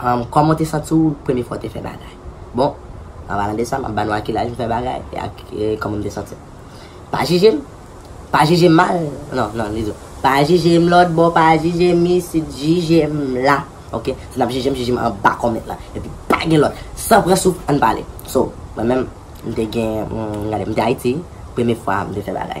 Humm kòman w te santi w premye fwa w te fè bagay? Bon, an palan de sa, m ap ba nou a ki laj m fè bagay e ak kòman m te santi m. Pa jije m! Pa jije m mal! Non, non, li di w. Pa jije m lòtbò, pa jije m isit, jije m la! Ok? Si n ap jije m, jije m anba kòment lan. Epi pa gen lòt! San pran souf, ann pale! So, mwen menm, m te gen, gade, m te Ayiti, premye fwa m te fè bagay.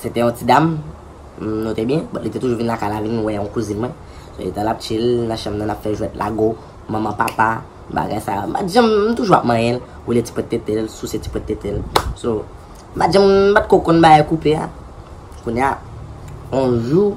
Se te yon ti dam, m note byen, but li te toujou vin lakay la vin wè yon kouzin mwen. So etan lap chill nan chanm nan nap fè jwèt lago, manman papa, bagay sa. M pat janm, m toujou ap manyen l, woule ti pwent tete l, souse ti pwent tete l. So, m pat janm, m pat ko konn bagay koupe a. Kounya, yon jou.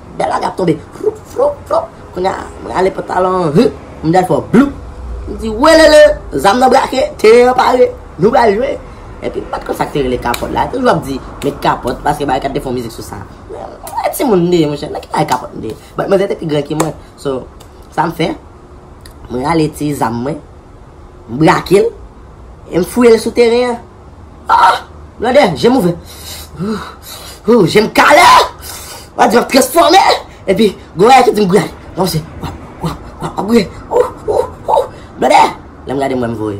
Bèl aga ap tonbe floup floup floup Kounya m rale pantalon an humm m dèy fò bloup M di welele zam nan brake teren an pare nou pral jwe Epi m pa t konn sa k te rele kapòt la Toujou ap di met kapòt paske Barekat te fè yon mizik sou sa Men m timoun m te ye monchè nan ki bagay kapòt m te ye But manzè te pi gran ke mwen So sa m fè M rale ti zam mwen M brake l E m fouye l sou teren an Ahh blòdè je m ouvè Ooh ooh je m kale Wap di wap transfòme Epi gon bagay ki di m gouye ale Wap se wap wap wap wap gouye Ooh ooh ooh blòdè Lè m gade m wè m voye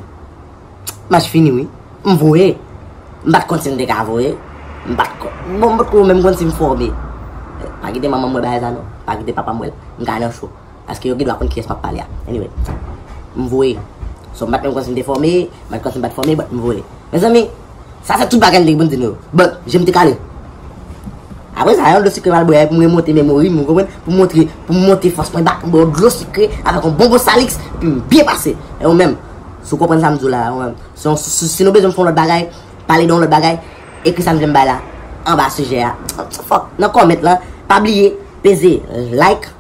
Match fini wi M voye M pat konn si m te ka voye M pat konn Bon m potko menm konn si m fòme Pa kite manman m wè bagay sa non Pa kite papa m wè l M ka nan cho. Paske yo gen dwa konn kiyès map pale a. Anyway. M voye. So m pat menm konn si m te fòme, m pat konn si m pat fòme but m voye. Mezanmi, sa se tout bagay m te gen pou m di nou yo. But, je m te kale. Apre sa, yon dlo sikre m al bwe pou m remonte memori m, ou konprann? Pou m montre, pou m monte fòs mwen back, m bwe yon dlo sikre avèk yon bonbon Salix epi m byen pase. E ou menm, si w konprann sa m di w la a, ou menm, si yon, si nou bezwen m fè yon lòt bagay, pale de yon lòt bagay, ekri sa m vle m bay la anba sijè a. Fòk, nan comment lan, pa bliye peze like.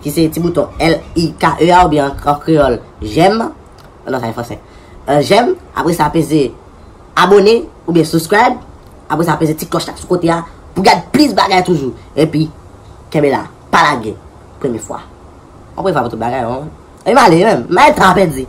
ki se ti bouton l-i-k-e a oubyen an kreyòl jèm, oh non sa se fransè, jèm, apre sa peze abone oubyen subscribe, apre sa peze ti klòch la sou kote a pou gad plis bagay toujou, epi kenbe la, pa lage premye fwa, yon premye fwa pou tout bagay non, epi m ale menm, m al tan an pèdi.